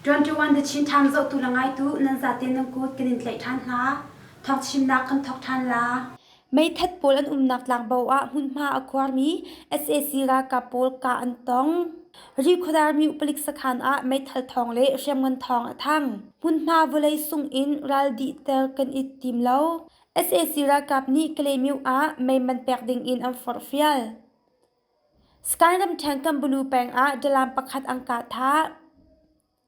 21 the Chin Times zohtu le ngaitu nan zaten nan kut kan in tlaih ṭhan hna. Thawng chimnak kan thawk ṭhan la. Meithat pawl an umnak tlangbo ah hmunhma a khuarmi sac ralkap pawl kah an tong. Rikhuadarmi upalik sakhan ah meithal thawng le hriamngan thawng a thang. Hmunhma vawlei sung in ral dihter kan i tim lo. sac ralkap nih Kalaymyo ah meiman pek ding in an forhfial. Sky ramṭhen Kambulu peng ah dalam pakhat an kah thah.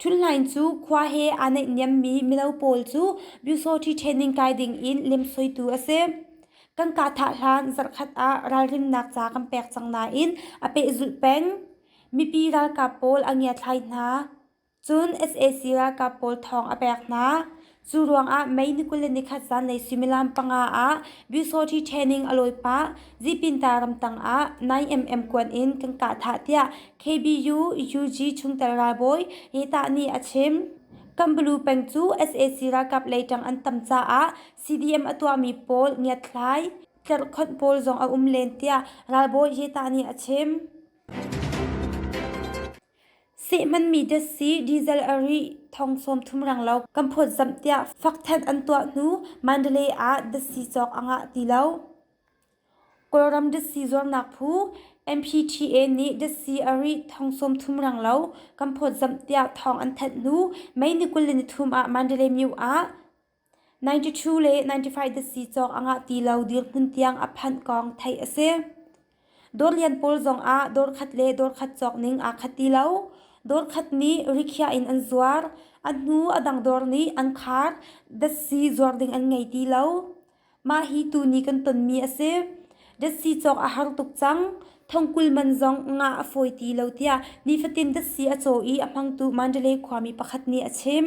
Ṭhuthlain cu khua he aa naihniammi mino pawl cu Byusawṭhi ṭhehning kai dingin lemsoitu a si. Kan kahtha hlan zarhkhat ah ralrinnak ca kan pek cang nain a pehzulh peng. Mipi ralkap pawl a ngiathlai hna. Cun sac ralkap pawl thawng a pek hna. Cu ruangah May ni kul le nikhat zanlei suimilam panga ah Byusawṭhi training a lawi pah. Zipinta ramtang ah 9mm kuan in kan kah thah tiah KBU UG chungtel ralbawi Hetah nih a chim. Kambalu peng cu sac ralkap leitang an tam caah CDM a tuahmi pawl ngiatthlai, tlerhkhonh pawl zong a um len tiah ralbawi Hetah nih a chim. Sehmanmi datsi diesel a rih thong sawm thum reng lo kan phawt zamh tiah fakthen an tuah hnu Mandalay ah datsi cawk a ngah ti lo. Kawlram datsi zuarnak phu MPTA nih datsi a rih thong sawm thum reng lo kan phawt zamh tiah thawng an thanh hnu May ni kul le nithum ah Mandalay myu ah ninety two le ninety five datsi cawk a ngah ti lo dirhmun tiang a phanh kong theih a si. Dawr lian pawl zongah dawr khat le dawr khat cawk ning aa khat ti lo. Dawr khat nih rikhiah in an zuar. A hnu a dang dawr nih an khar. Datsi zuar ding an ngei ti lo. Mah hi tuni kan tonmi a si. Datsi cawk a har tuk cang. Thongkul man zong ngah a fawi ti lo tiah nifatin datsi a caw i a hmangtu Mandalay khuami pakhat nih a chim.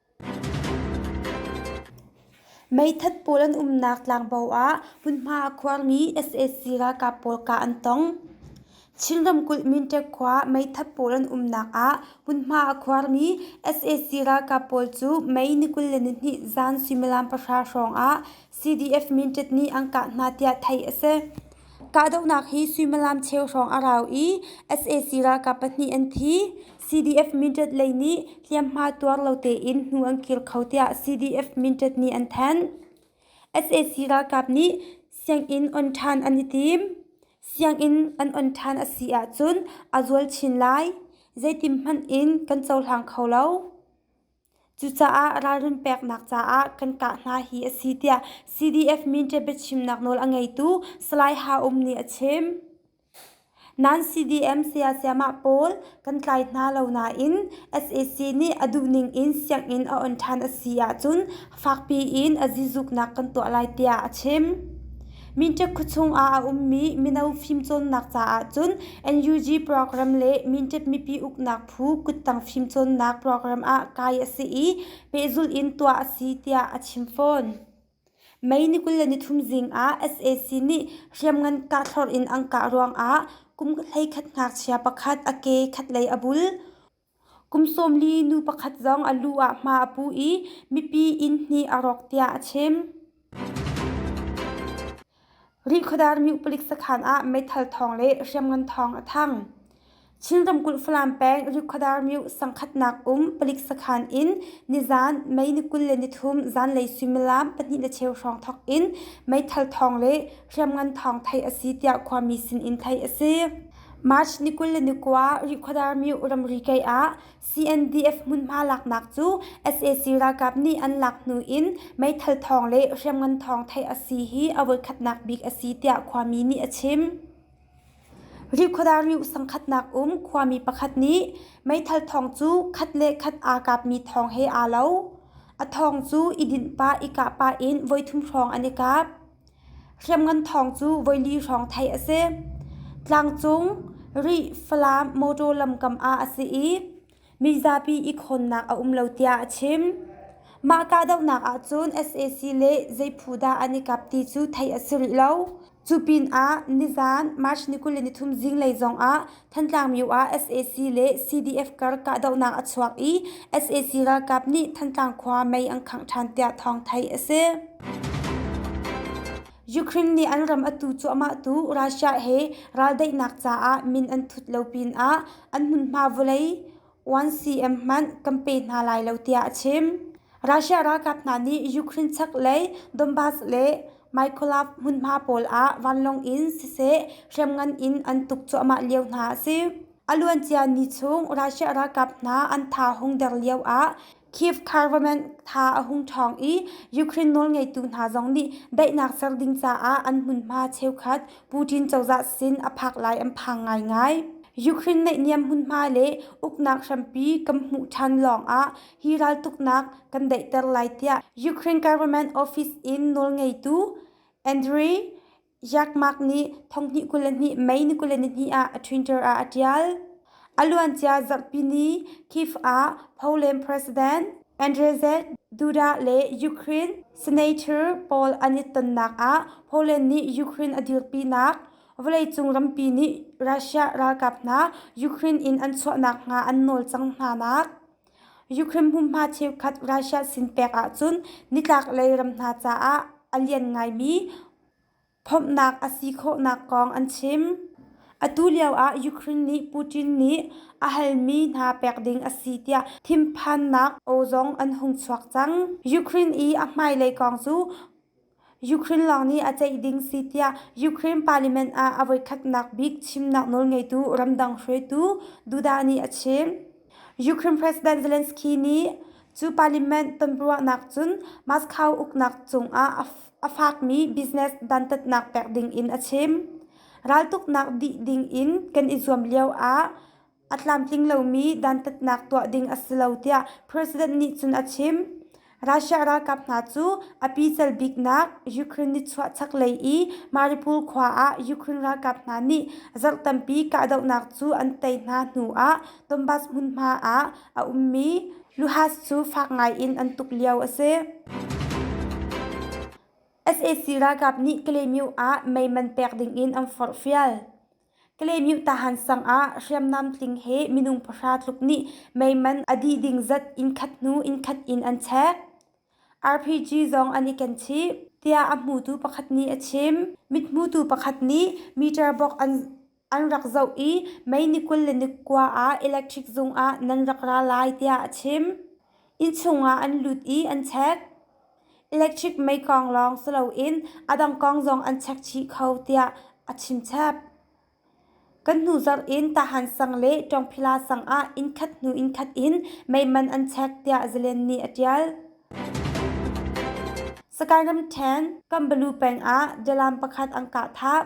Meithat pawl an umnak tlangbo ah hmunhma a khuangmi sac ralkap pawl kah an tong. Chin ramkulh Minṭek khua meithat pawl an umnak ah hmunhma a khuangmi sac ralkap pawl cu Mei ni kul le nihnih zan suimilam pahra hrawng ah CDF minṭet nih an kah hna tiah theih a si. Kahdohnak hi suimilam cheu hrawng a rau i sac ralkap pahnih an thi. CDF minṭet lei nih hliamhma tuar lo tein hnu an kir kho tiah CDF minṭet nih an thanh. sac ralkap nih sianginn on ṭhan an i tim. Sianginn an on ṭhan a si ahcun a zual chin lai. Zeitin hmanh in kan cohlang kho lo. Cucaah ralrin peknak caah kan kah hna hi a si tiah CDF Minṭe biachimnak nawl a ngeitu Salai Ha Um nih a chim. Nan CDM sayasayamah pawl kan tlai hna lo nain SAC nih a duhning in sianginn a on ṭhan a si ahcun fakpi in a zizuknak kan tuah lai tiah a chim. Mintek khuachung ah a ummi mino fimcawnnak caah cun NUG program le Mintek mipi uknak phu kuttang fimcawnnak program ah kai a si i pehzulh in tuah a si tiah a chim fawn. May ni kul le nithum zing ah sac nih hriamngan kahthlorh in an kah ruang ah kum hleikhat ngakchia pakhat a ke khatlei a bul. Kum sawmli nu pakhat zong a lu ah hma a pu i mipi inn hnih a rawk tiah a chim. Rihkhawdar myu palik sakhan ah meithal thawng le hriamngan thawng a thang. Chin ramkulh Falam peng Rihkhawdar myu sangkhatnak um palik sakhan in nizan Mei ni kul le nithum zanlei suimilam pahnih le cheu hrawng thawk in meithal thawng le hriamngan thawng theih a si tiah khuami sin in theih a si. March ni kul le ni kua Rikhuadarmyuh ramri kei ah CNDF hmunhma laknak cu sac ralkap nih an lak hnu in meithal thawng le hriamngan thawng theih a si hi a voikhatnak bik a si tiah khuami nih a chim. Rikhuadarmyuh sangkhatnak um khuami pakhat nih meithal thawng cu khat le khat aa kapmi thawng he aa lo. A thawng cu i dinh pah i kah pah in voithum hrawng an i kap. Hriamngan thawng cu voili hrawng theih a si. Tlangcung Rih Falam mawṭaw lamkam ah a si i mizapi ikhawnnak a um lo tiah a chim. Mah kahdohnak ahcun sac le zeiphu dah an i kap ti cu theih a si rih lo. Cu pinah nizan March ni kul le nithum zinglei zongah Thantlang myu ah sac le CDF kar kahdohnak a chuak i sac ralkap nih Thantlang khua mei an khangh ṭhan tiah thawng theih a si. Ukraine nih an ram a tu cuahmah tu Russia he raldaihnak caah min an thut lo pin ah an hmunhma vawlei 1cm hmanh kan pe hna lai lo tiah a chim. Russia ralkap hna nih Ukraine chak lei Donbas le Mykolaiv hmunhma pawl ah vanlawng in siseh hriamngan in an tuk cuahmah lio hna a si. A luancia ni chung Russia ralkap hna an tha hung der lio ah Kyiv government tha a hung ṭhawng i Ukraine nawlngeitu hna zong nih daihnak ser ding caah an hmunhma cheukhat Putin cozah sin a phak lai an phang ngaingai. Ukraine naihniam hmunhma le uknak hrampi kan hmuh ṭhan lawngah hi raltuknak kan daihter lai tiah Ukraine government office in nawlngeitu Andriy Yakmak nih thonghnih kul le hnih Mei ni kul le nihnih ah a Twitter ah a ṭial. A luancia zarhpini Kyiv ah Poland President Andrzej Duda le Ukraine Senator pawl an i tonnak ah Poland nih Ukraine a dirpinak, vawleicung rampi nih Russia ralkap hna Ukraine in an chuah nakhnga an nawl cang hnanak, Ukraine hmunhma cheukhat Russia sin pek ahcun nitlaklei ram hna caah a lian ngaimi phomhnak a si khawhnak kong an chim. Atu lioah Ukraine nih Putin nih a halmi hna pek ding a si tiah thinphannak aw zong an hung chuak cang. Ukraine i a hmailei kong cu Ukraine lawng nih a ceih ding si tiah Ukraine parliament ah a voikhatnak bik chimnak nawlngeitu ramdang hruaitu Duda nih a chim. Ukraine President Zelensky nih cu parliament tonruahnak cun Moscow uknak cungah a fakmi business dantatnak pek ding in a chim. Raltuknak dih ding in kan i zuam lio ah a tlamtling lomi dantatnak tuah ding a si lo tiah president nih cun a chim. Russia ralkap hna cu a pical biknak Ukraine nichuah chaklei i Mariupol khua ah Ukraine ralkap hna nih zarh tampi kahdohnak cu an tei hna hnu ah Donbas hmunhma ah a ummi luhas cu fak ngaiin an tuk lio a si. sac ralkap nih Kalaymyo ah mei man pek dingin an forhfial. Kalaymyuh Tahan sangah hriamnam tling he minung pahra tluk nih meiman a dih ding zat innkhat hnu innkhat in an chek. RPG zong an i kenchih, tiah a hmutu pakhat nih a chim. Mithmutu pakhat nih meter bok an an rak zoh i mei ni kul le ni kua ah electric zung ah nan rak ra lai tiah a chim. Innchung ah an lut i an chek. Electric mekong lawng si loin a dang kong zong an chek chih kho tiah a chimchap. Kan hnu zarh in Tahan sang le Ṭawngphila sang ah innkhat hnu innkhat in meiman an chek tiah zalen nih a ṭial. Skyrim 10 Kambalu peng ah dalam pakhat an kah thap.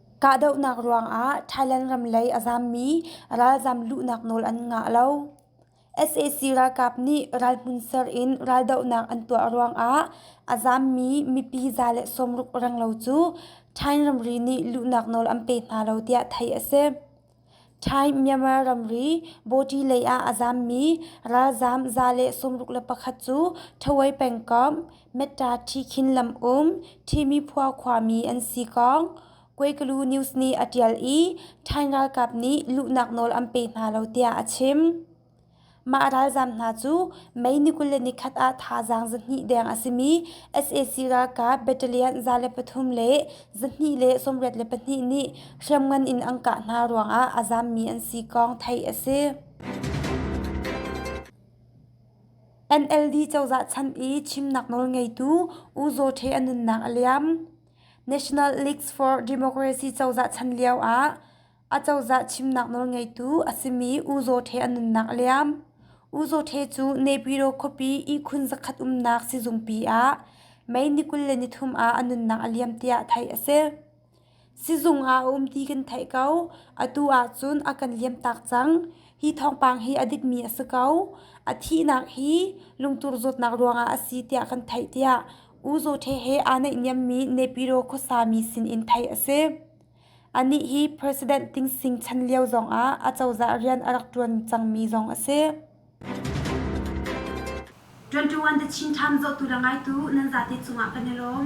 Kahdohnak ruangah Thailand ram lei a zammi ralzam luhnak nawl an ngah lo. sac ralkap nih ral hmun ser in raldohnak an tuah ruangah a zammi mipi za le sawmruk renglo cu Thai ramri nih luhnak nawl an pe hna lo tiah theih a si. Thai Myanmar ramri Bawṭi lei ah a zammi ralzaam za le sawmruk le pakhat cu Thawi pengkomh Metta-Thi Khin lam um Thimiphuo khuami an si kong Kueglu News nih a ṭial i Thai ralkap nih luhnak nawl an pe hna lo tiah a chim. Mah ralzaam hna cu May ni kul le ni khat ah thazaang zahnih deng a simi sac ralkap battalion za le pathum le zahnih le sawmriat le pahnih nih hriamngan in an kah hna ruangah a zaammi an si kong theih a si. NLD cozah chan i chimnak nawlngeitu U Zaw Hte a nunnak a liam. National Leagues for Democracy cozah chan lioah Acozah chimnak nawlngeitu a simi U Zaw Ṭhe a nunnak a liam. U Zaw Ṭhe cu Nepyro khuapi ihkhun zakhat umnak sizungpi ah May ni kul le ni thum ah a nunnak a liam tiah theih a si. Sizung ah a um ti kan theih ko. Atu ahcun a kan liamtak cang. Hi thawngpang hi a dikmi a si ko. A thihnak hi lungtur zawtnak ruangah a si tiah kan theih tiah U Zaw Ṭhe he aa naihniammi Nepyro khuasami sinin theih a si. Anih hi president tingsing chan lio zongah a cozah rian a rak ṭuan cangmi zong a si. ṭuanṭuan the Chin Times zawtu le ngaitu nan zate cungah kan i lawm.